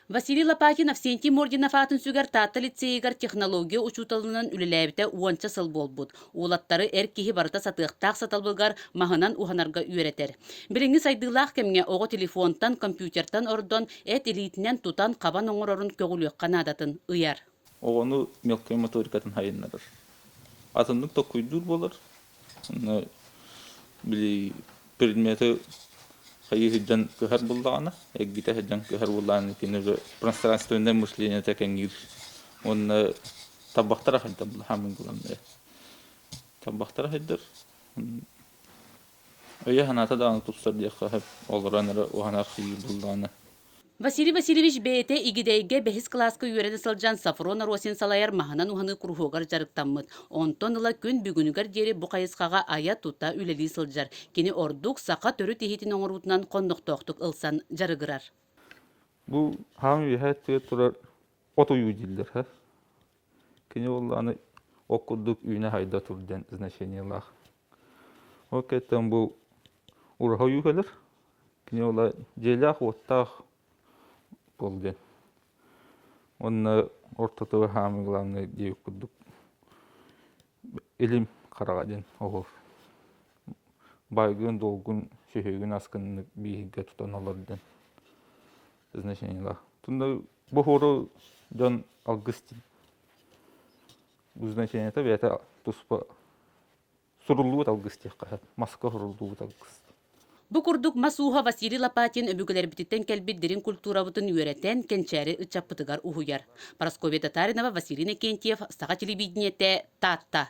Василий Лопатин Авсентий Мординов аатын сүгэр Таатта лицейигар технология учууталынан үлэлээбитэ уонча сыл буолбут. Уолаттары эр киһи барыта сатыахтаах сатабылыгар маһынан уһанарга үөрэтэр. Билиҥҥи сайдыылаах кэмҥэ оҕо телефонтан, компьютертан ордон, эт илиитинэн тутан, хабан оҥорорун көҕүлүөххэ наадатын ыйар. оҕону мелкай моторикатын айаннарар. Атыннык токкуйдуур буолар. Онно били предмети хайыы сылдьан кыһар буллаҕына, эргитэ сылдьан кыһар буоллаҕына итини уже пространственное мышлениета кэҥиир. Уонна табахтара сайдалла хамын кыланнайа. Табахтара сайдар. Өйө-санаата даҕаны тупсар диэххэ сөп, олорон эрэ уһанар-архайыы буоллаҕына. Василий Васильевич бэйэтэ Игидэйгэ бэһис кылааска үөрэнэ сылдьан Софрон Аросин салайар маһынан уһаныы куруһуогар дьарыктаммыт. Онтон ыла күн бүгүнүгэр диэри бу хайысхаҕа айа-тута үлэлии сылдьар. Кини ордук саха төрүт иһитин оҥоруутунан хоннохтоохтук ылсан дьарыгырар. Бу хаан үөһэ өттүгэр турар от уйуу дииллэр һэ. Кини буоллаҕына ол курдук үүнэ-хайда тур диэн значениелаах. Ол кэнниттэн бу ураһа ойуу кэлэр. Кини уола дьиэлээх-уоттаах уол диэн. Онно ортото хаамыы главный диэбит курдук илим хараҕа диэн оҕо баайгын-долгун, сүһүгүн-аскыннык бииһиргэ тутан олор диэн значениелаах. Тunda бу оҕолору дьон алгыс диэн. значенията бэйэтэ туспа суруллубут алгыс диэххэ маска суруллубут алгыс Бу курдук мас ууһа Василий Лопатин өбүгэлэрбититтэн кэлбит дириҥ культурабытын үөрэтэн, кэнчээри ыччаппытыгар уһуйар. Парасковья Татаринова, Василий Иннокентьев, Саха телевидениетэ, Таатта.